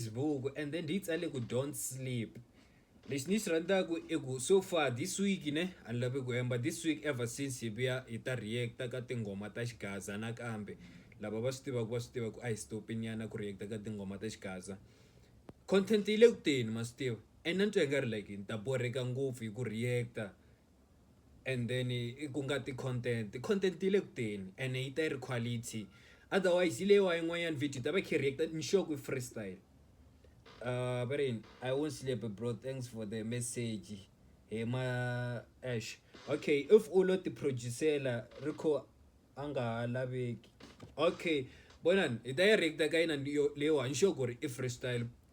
Facebook and then ndzi tsale ku don't sleep lexi ni xi rhandzaka i ku so far this week ne a ni lavi ku hemba this week ever since hi vuya hi ta react-a ka tinghoma ta xigaza nakambe lava va swi tivaka va swi tiva ku a hi stop-i nyana ku react-a ka tinghoma ta xigaza content yi le ku teni ma swi tiva and na ni twa i nga ri like ni ta borheka ngopfu hi ku react-a and then ku nga ti content content yi le kuteni ene yi ta yi ri quality otherwise yi leyiwa yin'wanyana video yi ta va yi kha yi react ni sure ku i free style uh va ri yini i won't sleep bro thanks for the message hi ma ash okay if u lo ti producer-la ri kho a nga ha laveki okay vonani hi ta yi react-a ka yina leyiwa ni sure ku ri i free style.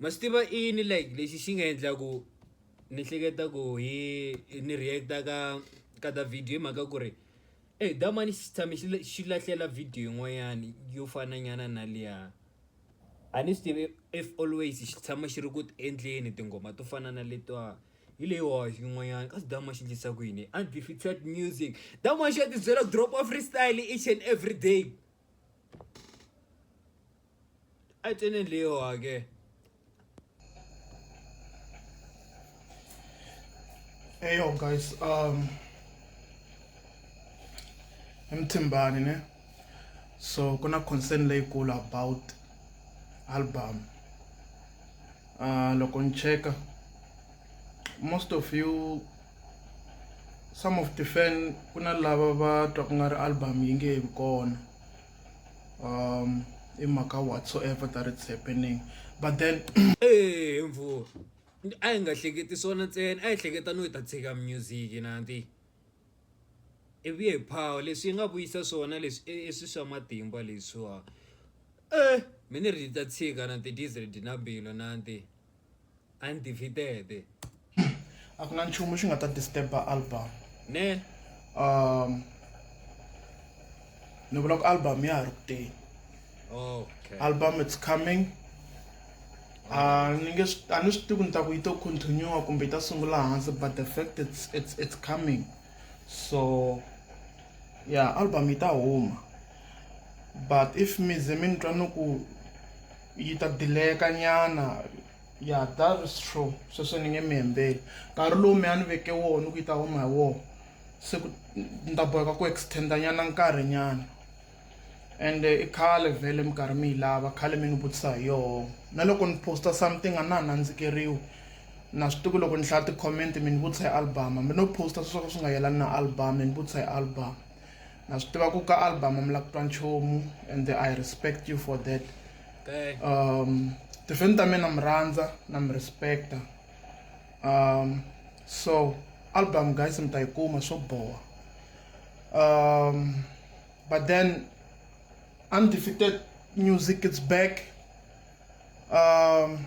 ma swi tiva i yini like lexi xi nga endla ku ni hleketa ku hi ni react ka ka ta video hi mhaka ku ri e da mani xi tshame xi xi lahlela video yin'wanyani yo fana nyana na liya a ni swi tivi if always xi tshama xi ri ku endleni tinghoma to fana na letiwa hi leyi wa yin'wanyana ka da ma xi endlisa ku yini undefeated music da ma xi ya ti byela drop of freestyle each and every day. Ai tene leo age. Hey yo guys, um emthimbani ne so kuna concern leyikulu about album uh loko ni cheka most of you some of the fan kuna lava va twa ku nga ri album yi nge vi kona um i mhaka whatsoever that it's happening but then ee mvura a yi nga hleketi swona ntsena a yi hleketa no yi ta tshika music nanti i vuye hi power leswi yi nga vuyisa swona leswi i swi swa matimba leswiwa e mina ri ta tshika na ti-diesel dina mbilo nanti. undefeated a ku na nchumu xi nga ta disturb album ne um ni vula ku album ya ha ri ku teni okay album it's coming a ah, ni nge a ni swi tivi ni ta ku yi to continue kumbe yi ta sungula hansi but the fact it's it's it's coming so yeah album yi ta huma but if mi ze mi ni twa ni ku yi ta dileka nyana ya that is true sweswo ni nge mi hembeli nkarhi lowu mi a ni veke woho ni ku yi ta huma hi woho se ku ni ta boheka ku extenda nyana nkarhi nyana and i khale vhele mi karhi mi yi lava khale mi ni vutisa hi yoho na loko ni posta something a na ha nandzikeriwi na swi tiku loko ni hlaya ti-comment mi ni vutisa hi album hambi no posta sweswo ka swi nga yelani na album mi ni vutisa hi album Na swi tiva ku ka album mi la ku twa nchumu and I respect you for that. Um tihlweni ta mina mi rhandza na mi respecta. Um so album guys mi ta yi kuma swo boha. Um but then undefeated music it's back. Um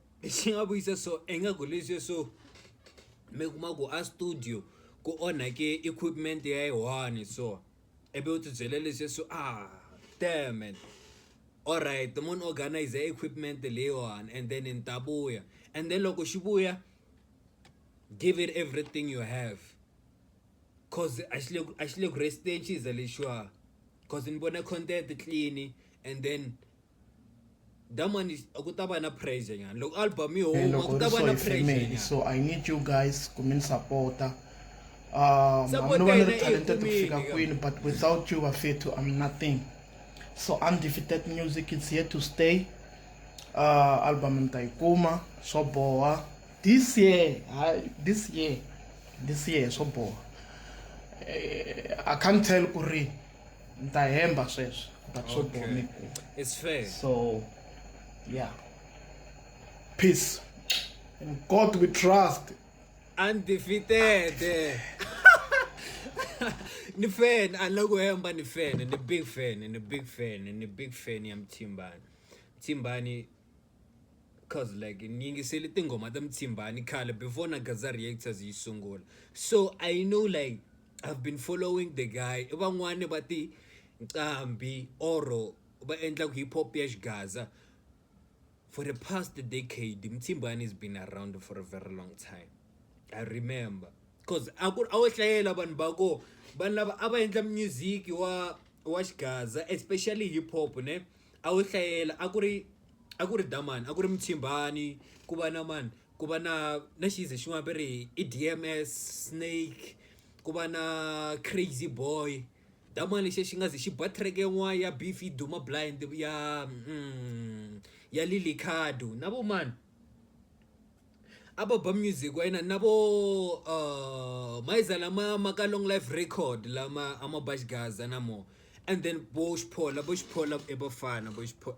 xi nga vuyisa so ingaku leswi swo mi kuma ku a studio ku onhake equipment ya yi one so ivi u tibyela leswi swo a ah, dammit alright munhu organize equipment leyiwani and then ni ta vuya and then loko xi vuya give it everything you have cause a xi le a xi le ku resteni xi za lexiwa cause ni vona content clean and then that man is ku ta va na pressure nyana loko album yi huma ku ta va na pressure so i need you guys ku mi ni sapota um i'm no one talented ku fika kwini but without you bafethu i'm nothing so undefeated music it's here to stay uh album ni ta yi kuma swo boha this year this year this year swo boha eh, i can't tell ku ri ni ta hemba sweswo but swo Okay. bomi It's fair. so yeah peace in god we trust Undefeated. ni fan alokuhemba ni fan ni big fan ni big fan ni big fan ya mthimbani mthimbani cause like ni yingisele tinghoma ta mthimbani khale before na gaza reactors yi sungula so i know like I've been following the guy van'wani va ti nqambi or va endlaku hip hop ya xigaza for the past decade Mtsimbani has been around for a very long time I remember cause a ku ri a wo hlayela vanhu va ko vanhu lava a va endla music wa wa xigaza especially hip hop ne a wo hlayela a ku ri a ku ri Damani a ku ri Mtsimbani ku va na mani ku va na na xize xin'wana va ri i D_M_S, snake ku va na crazy boy xidamu lexi xi nga ze xi ba track yin'wana ya beef yi duma blind ya ya Lilly Cado na vo mani a va ba music wa yena na vo mayiza lama ma ka long life record lama a ma ba xigaza na mo and then vo xiphola vo xiphola i vafana vo xiphola .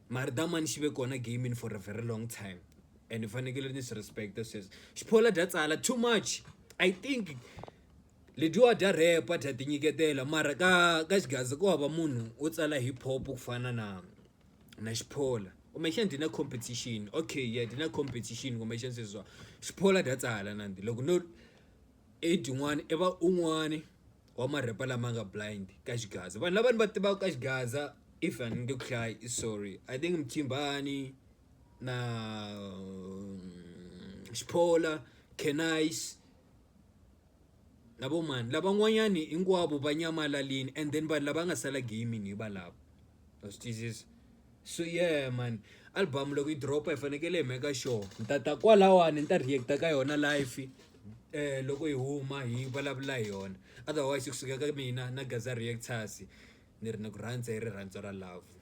mara that mani xi ve kona gamini for a very long time and ni fanekele ni swi respect-a sweswo xiphola dya tsala too much i think ledyiwa dya repa dya tinyiketela mara ka ka xigaza ku hava munhu wo tsala hip hop ku fana na na xiphola kumbexana dyi na competition okay yeah dyi na competition kumbexana sweswiwa xiphola dya tsala nandi loko no Age yin'wani i va un'wani wa ma rapper lama nga blind ka xigaza vanhu lava ni va tivaka ka xigaza if a ni nge ku hlayi i sorry I think Mthimbani na Xiphola, Canicee na vo mani lavan'wanyani hinkwavo va nyamalalini and then vanhu lava nga sala game hi valavo. a swi tiyisisi so yeah man album loko yi dropa hi fanekele hi meka sure ni ta ta kwalawani ni ta reacta ka yona life eh loko hi huma hi vulavula hi yona otherwise kusuka ka mina na gaza reactors ni ri ni ku rhandza hi rirhandzu ra love